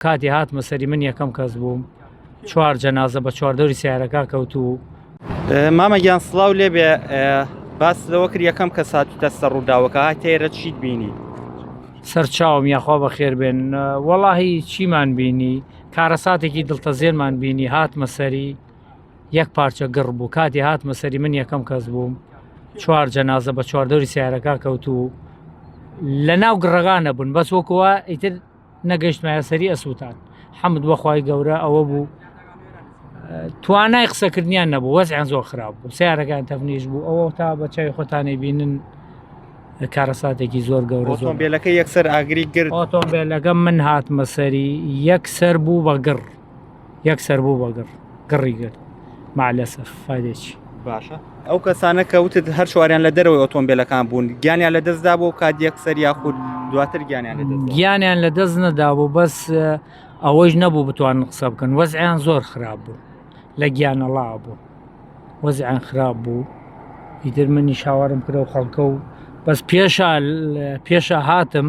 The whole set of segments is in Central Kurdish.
کاتی هاتمە سەری من یەکەم کەس بووم چوار جەنازە بە چواردەوری سیارەکە کەوت و مامە گیان سلااو لێبێ باس لەوە کرد یەکەم کە ساتی دەستە ڕووداوەکە تێرە چیت بینی سەرچاوم یاخوا بە خێر بێن وەڵاهی چیمان بینی کارەساتێکی دڵتەزێنمان بینی هاتمە سەری یەک پارچە گڕ بوو کاتی هاتمە سەری من یەکەم کەس بووم چوار جەنازە بە چواردەوری سیارەکە کەوت و لە ناو گڕگانە بوون بەس وەکووە ئیتر نەگەشتمایە سەری ئەسووتان حەمد بەخوای گەورە ئەوە بوو توانای قسەکردنیان نەبوو وەزیان زۆر خراپ بوو سیارەکان تەفنیش بوو ئەوە تا بە چای خۆتانی بینن کارەساتێکی زۆر گەورە زۆر بێلەکە یەکسەر ئاگری گرت ئۆتۆمبیلەکە من هاتمە سەری یەکسەر بوو بە گڕ یەک سەر بوو بە گڕ گڕی گرت مالەسەر فادێکی باشە ئەو کەسانە کە وتت هەر شواریان لە دەرەوەی ئۆتۆمبیلەکان بوون گیانیان لە دەستدا بۆ کات یەک سەر یاخود دواتر گیانیان گیانیان لە دەست نەدا بوو بەس ئەوەش نەبوو بتوان قسە بکەن وەزیان زۆر خراپ بوو لە گیانەڵا بوو وەزیان خراپ بوو ئیتر منی شاوارم کرە و خەڵکە و بەس پێشە پێشە هاتم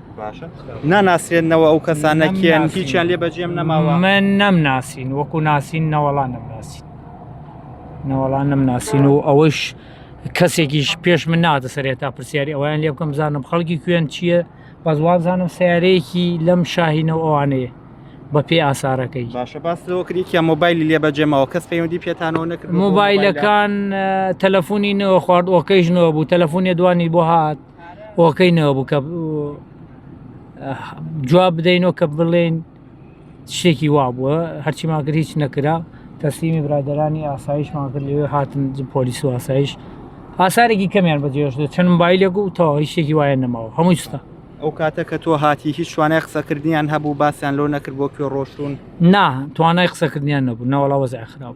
ناناسرێنەوە ئەو کەسانە کێن هیچیان لێ بەجێم نەماوە من نەم ناسین وەکو ناسین نەوەڵا نەم ناسین نەوەڵا نەم ناسین و ئەوەش کەسێکیش پێش من ناتە سەرێت تا پرسیاری ئەویان لێ بکەم بزانم خەڵکی کوێن چییە بەس وابزانم سیارەیەکی لەم شاهینە و ئەوانەیە بە پێ ئاسارەکەی باشە باسەوەکرێکیان مۆبایلی لێ بەجێمەوە کەس پەیوەندی پێتانەوە نەکرد مۆبایلەکان تەلەفۆنی نەوە خوارد ئۆکەیش نەوە بوو تەلەفۆنی دوانی بۆ هاات هۆکەینەوە بوو کە جواب بدەینەوە کە بڵێن شتێکی وا بووە هەرچی ماگر هیچ نەکرا تەسلیمی برادرانی ئاسایش ماگر لەوێ هاتن پۆلیس و ئاسایش ئاسارێکی کەمیان بەجێش دێت چەند مبایلێک و تەواو هیچێکی وایە نەماوە هەمووی ستا ئەو کاتە کە تۆ هاتی هیچ شوانای قسەکردنیان هەبوو باسییان لۆ نەکرد بۆ کوێ ڕۆشتون نا توانای قسەکردنیان نەبوو ناوەڵاوەزای خراپ.